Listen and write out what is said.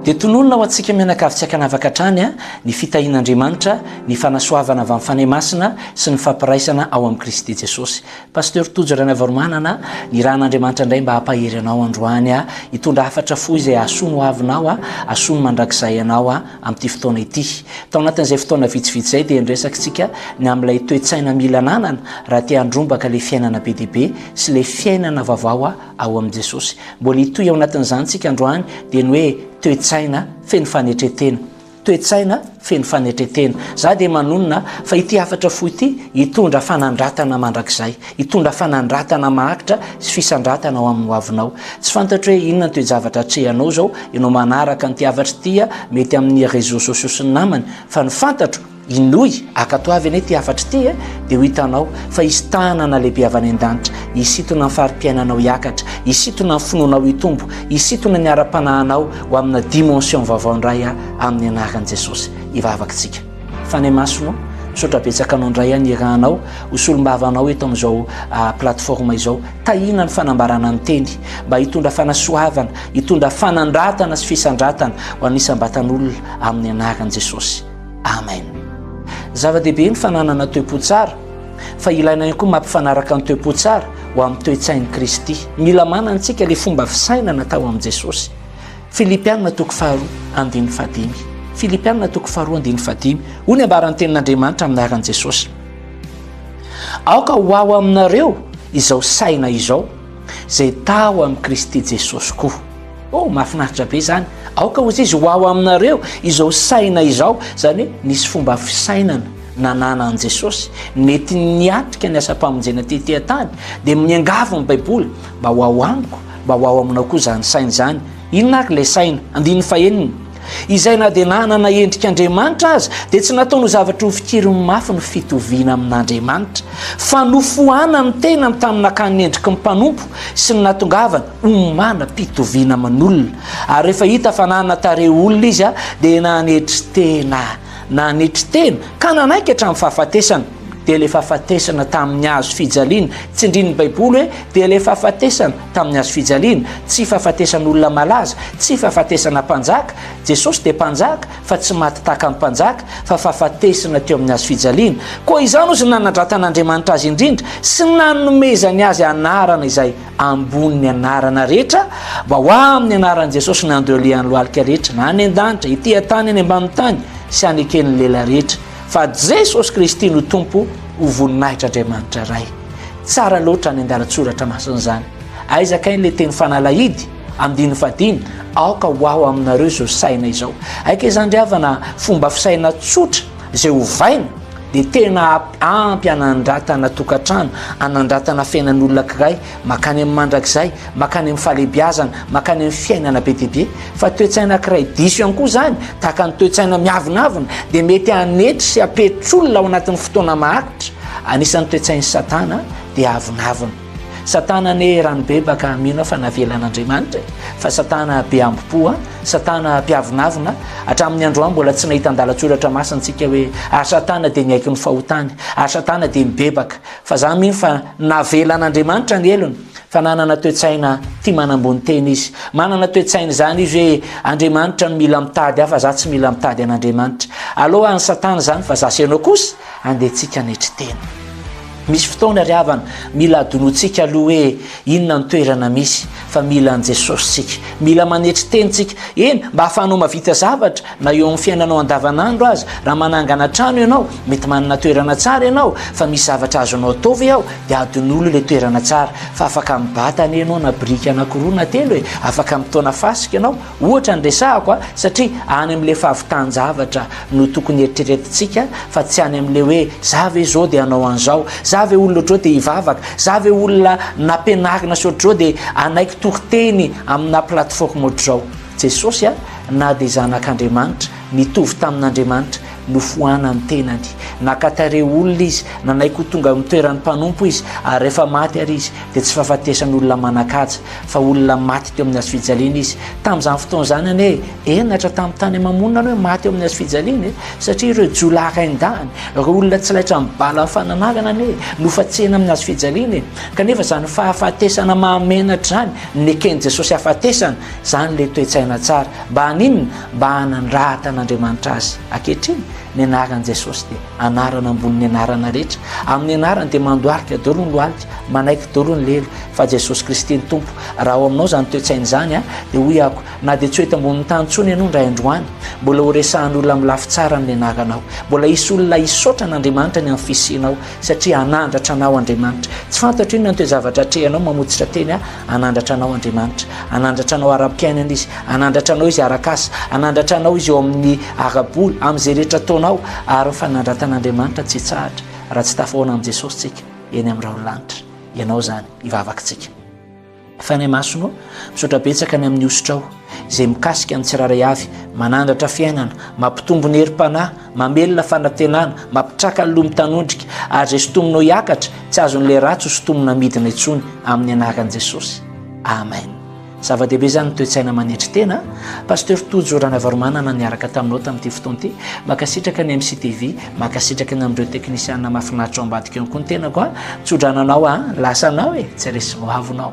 Dia tononina ho antsika mianakavy tsy ankanavaka hatrany ny fitahian'Andriamanitra, ny fanasoavana avy amin'ny Fanahy Masina sy ny fampiraisana ao amin'i Kristy Jesosy. Pasteur Tojo Ranavalomanana, ny Ran'Andriamanitra indray mba hampahery anao androany, hitondra hafatra fo izay hahasoa ny hoavinao, hahasoa ny mandrakizay anao amin'ity fotoana ity. Tao anatin'izay fotoana vitsivitsy izay dia niresakitsika ny amin'ilay toe-tsaina mila ananana raha te handrombaka ilay fiainana be dia be sy ilay fiainana vaovao ao amin'i Jesosy. Mbola hitohy ao anatin'izany isika androany dia ny hoe toe-tsaina feno fanetretena. Toe-tsaina feno fanetretena. Za dia manonona fa ity hafatra fo ity hitondra fanandratana mandrakizay, hitondra fanandratana maharitra sy fisandratana ao amin'ny hoavinao. Tsy fantatro hoe inona ny toe-javatra atrehanao izao, ianao manaraka an'ity hafatra ity mety amin'ny réseaux sociaux sy ny namany, fa ny fantatro Inoy, ankatoavy anie ity hafatra ity e, dia ho hitanao fa hisy tanana lehibe avy any an-danitra hisintona ny fari-piainanao hiakatra, hisintona ny finoanao hitombo, hisintona ny ara-panahinao ho amina dimension vaovao indray aho amin'ny anaran'i Jesosy. Hivavaka isika. Fanahy Masina ô, misaotra betsaka Anao indray aho nirahanao ho solombava Anao eto amin'izao plateforme izao. Tahiana ny fanambarana ny Teny mba hitondra fanasoavana, hitondra fanandratana sy fisandratana ho an'ny isam-batan'olona amin'ny anaran'i Jesosy. Amen. Zava-dehibe ny fananana toe-po tsara, fa ilaina ihany koa mampifanaraka ny toe-po tsara ho amin'ny toe-tsain'i Kristy. Mila manana antsika ilay fomba fisainana tao amin'i Jesosy. Filipianina toko faharoa andininy fadimy. Filipianina toko faharoa andininy fadimy. Hoy ny ambaran'ny tenin'Andriamanitra amin'ny anaran'i Jesosy. Aoka ho ao aminareo izao saina izao, izay tao amin'i Kristy Jesosy koa. Oh mahafinaritra be zany, aoka ozy izy ho ao aminareo izao saina izao, zany hoe nisy fomba fisainana nananan'i Jesosy nety niatrika ny asam-pamonjena tety an-tany, dia miangavy ny baiboly mba ho ao amiko, mba ho ao aminao koa zany saina zany, inona ary ilay saina? andininy fahenina, izay na dia nanana endrik' Andriamanitra aza dia tsy nataony ho zavatra ho fikiriny mafy ny fitoviana amin'Andriamanitra, fa nofoanany ny tenany tamin'ny nakany ny endriky ny mpanompo sy ny natongavany Omana pitoviana aman'olona ary rehefa hita fa nanana tarehy olona izy dia nanetry tena, nanetry tena ka nanaiky hatramin'ny fahafatesana. Dia ilay fahafatesana tamin'ny hazo fijaliana. Tsindrin'ny Baiboly hoe dia ilay fahafatesana tamin'ny hazo fijaliana. Tsy fahafatesan'olona malaza, tsy fahafatesana mpanjaka. Jesosy dia mpanjaka fa tsy maty tahaka ny mpanjaka fa fahafatesana teo amin'ny hazo fijaliana. Koa izany ozy ny nanandratan'Andriamanitra azy indrindra sy ny nanomezany azy anarana izay ambony ny anarana rehetra mba ho amin'ny anaran'i Jesosy ny andro ialehan'ny lohalika rehetra na any an-danitra ety an-tany any ambanin'ny tany sy haneken'ny lela rehetra fa Jesosy Kristy no Tompo ho voninahitra Andriamanitra Ray. Tsara loatra any an-dalatsoratra masina izany. Aiza kay le teny fanalahidy andininy fadiny aoka ho aho aminareo izao saina izao. Aika izany ry havana fomba fisaina tsotra Izay ovaina dia tena ampy hanandratana tokantrano, hanandratana fiainan'olona kiray, makany amin'ny mandrakizay, makany amin'ny fahalebiazana, makany amin'ny fiainana be dia be. Fa toetsaina kiray diso ihany koa izany, tahaka ny toetsaina miavonavona, dia mety hanetry sy hampetry olona ao anatin'ny fotoana maharitra. Anisan'ny toetsain'i Satana dia avonavona. Satana anie rano bebaka mino aho fa navelan'Andriamanitra e, fa satana be hambom-po a, satana mpiavonavona, hatramin'ny androany mbola tsy nahita an-dalan-tsoratra masina antsika hoe ary satana dia niaiky ny fahotany, ary satana dia mibebaka, fa za mino fa navelan'Andriamanitra ny helony, fa nanana toe-tsaina tia manambony tena izy, manana toe-tsaina izany izy hoe Andriamanitra no mila mitady ahy fa za tsy mila mitady an'Andriamanitra, aleo an'i satana izany fa za sy ianao kosa andehantsika hanetry tena. Misy fotoana ry havana mila adinotsika aloha hoe inona ny toerana misy fa mila an'i Jesosy tsika. Mila manetry teny tsika, eny mba ahafahanao mavita zavatra na eo amin'ny fiainanao andavanandro aza. Raha manangana trano ianao, mety manana toerana tsara ianao fa misy zavatra azonao atao ve ao? Dia adino aloha ilay toerana tsara fa afaka mibata anie ianao na biriky anakiroa na telo e! Afaka mitaona fasika ianao. Ohatra ny resahako a, satria any amin'ilay fahavitan-javatra no tokony hieritreretintsika fa tsy any amin'ilay hoe za ve izao dia hanao an'izao, za ve olona ohatr'izao dia hivavaka, za ve olona nampianarina sy ohatr'izao dia hanaiky toriteny aminà plateforme ohatr'izao. Jesosy a, na dia Zanak'Andriamanitra, Nitovy tamin'Andriamanitra, nofoanan'ny tenany. Naka tarehy olona izy, nanaiky ho tonga amin'ny toeran'ny mpanompo izy, ary rehefa maty àry izy, dia tsy fahafatesan'olona manan-kaja, fa olona maty teo amin'ny hazo fijaliana izy. Tamin'izany fotoana izany anie, henatra tamin'ny tany aman-monina ny hoe maty eo amin'ny hazo fijaliana e! Satria ireo jiolahy rain-dahiny, ireo olona tsy laitra amin'ny bala ny fananarana anie, nofatsehina amin'ny hazo fijaliana e! Kanefa izany fahafatesana mahamenatra izany, neken'i Jesosy hahafatesana, izany ilay toe-tsaina tsara. Mba haninona? mba hanandrata an'Andriamanitra azy ankehitriny ny anaran'i Jesosy dia anarana ambonin'ny anarana rehetra amin'ny anarany dia mandoarika doro ny lohalika manaiky doro ny lelo fa Jesosy Kristy ny Tompo raha ao aminao izany toetsaina izany a dia hoy ako na dia tsy ho eto ambonin'ny tany tsony ianao ndray androany mbola ho resahan'olona amin'ny lafy tsara amin'ny anaranao mbola hisy olona hisaotra an'Andriamanitra ny amin'ny fisianao Satria hanandratra anao Andriamanitra. Tsy fantatro inona ny toe-zavatra atrehinao, mamotsitra teny aho, hanandratra anao Andriamanitra. Hanandratra anao ara-piainana Izy, hanandratra anao Izy ara-kasa, hanandratra anao Izy eo amin'ny ara-bola, amin'izay rehetra ataonao, ary ny fanandratan'Andriamanitra tsy hitsahatra raha tsy tafahoana amin'i Jesosy tsika eny amin'ny rahon'ny lanitra. Ianao izany, ivavaka tsika. Fanahy Masina ô, misaotra betsaka ny amin'ny hosotrao izay mikasika ny tsirairay avy, manandratra fiainana, mampitombo ny herim-panahy, mamelona fanantenana, mampitraka ny loha mitanondrika, ary izay sintominao hiakatra, tsy azon'ilay ratsy ho sintomina midina intsony, amin'ny anaran'i Jesosy. Amen. Zava-dehibe izany ny toe-tsaina manetry tena. Pasteur Tojo Ranavarimanana niaraka taminao tamin'ity fotoana ity. Mankasitraka ny MCTV. Mankasitraka ny amin'ireo teknisiana mahafinaritra ao ambadika eo koa ny tenako a. Tsodrano anao a, lasa anao e, tsy resy vao avo nao.